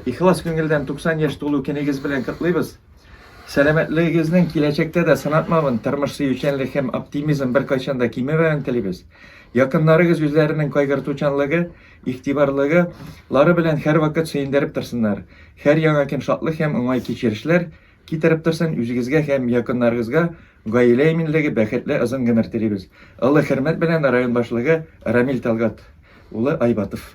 Ихлас күңелдән 90 яшь тулу көнегез белән котлыйбыз! Сәламәтлегегезнең киләчәктә дә сынатмавын, тормыш сөючәнлек һәм оптимизм беркайчан да кимемәвен телибез. Якыннарыгыз үзләренең кайгыртучанлыгы, игътибарлыгы лары белән һәрвакыт сөендереп торсыннар. Һәр яңа көн шатлык һәм уңай кичерешләр Китереп торсын, үзегезгә һәм якыннарыгызга гаилә иминлеге, бәхетле озын гомер телибез. Олы хөрмәт белән район башлыгы Рамил Талгат улы Айбатов.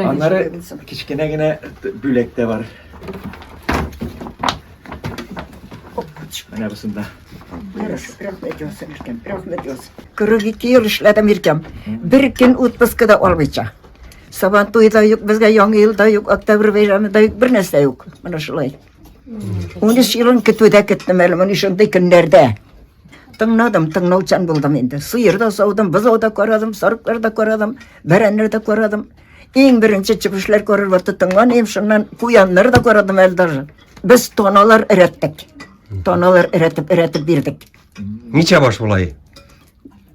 Аннары кечкенә генә бүләк тә бар. Менә бусында. Рәхмәт, Йосыф. 42 ел эшләдем иркәм. Бер көн отпускада алмыйча. Сабан туе да юк, безгә яңа ел да юк, октябрь бәйрәме да юк, бернәрсә юк. Менә шулай. Унөч елын көтүдә көттем әле моны шундый көннәрдә. Тыңладым, тыңлаучан булдым инде. Сыер да саудым, бозау да карадым, сарыклар да карадым, бәрәннәр дә карадым. Иң беренче чебешләр күрер вакыт тыңланыйм, шуннан куяннар да карадым әле даже. Без тоналар эрәттек. Тоналар эрәтеп, эрәтеп бирдек. Ничә баш булай?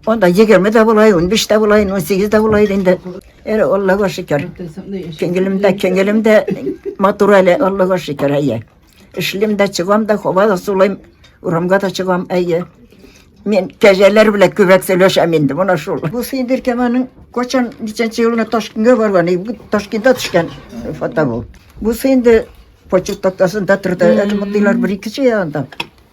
Анда егерме дә болай, унбиш тә болай, унсигез дә болай инде. Әре Аллага шөкер. Күңелемдә, күңелемдә матур әле Аллага шөкер, әйе. Эшлим дә, чыгам да, һава да сулыйм, урамга да чыгам, әйе. Мин кәҗәләр белән күбрәк сөйләшәм инде, менә шул. Бу Сыйдыр Кәманың качан ничәнче елына Ташкентка барган, бу Ташкентта төшкән фото бу. Бу Сыйдыр почтатасында торды, әле мондыйлар бер икесе янда.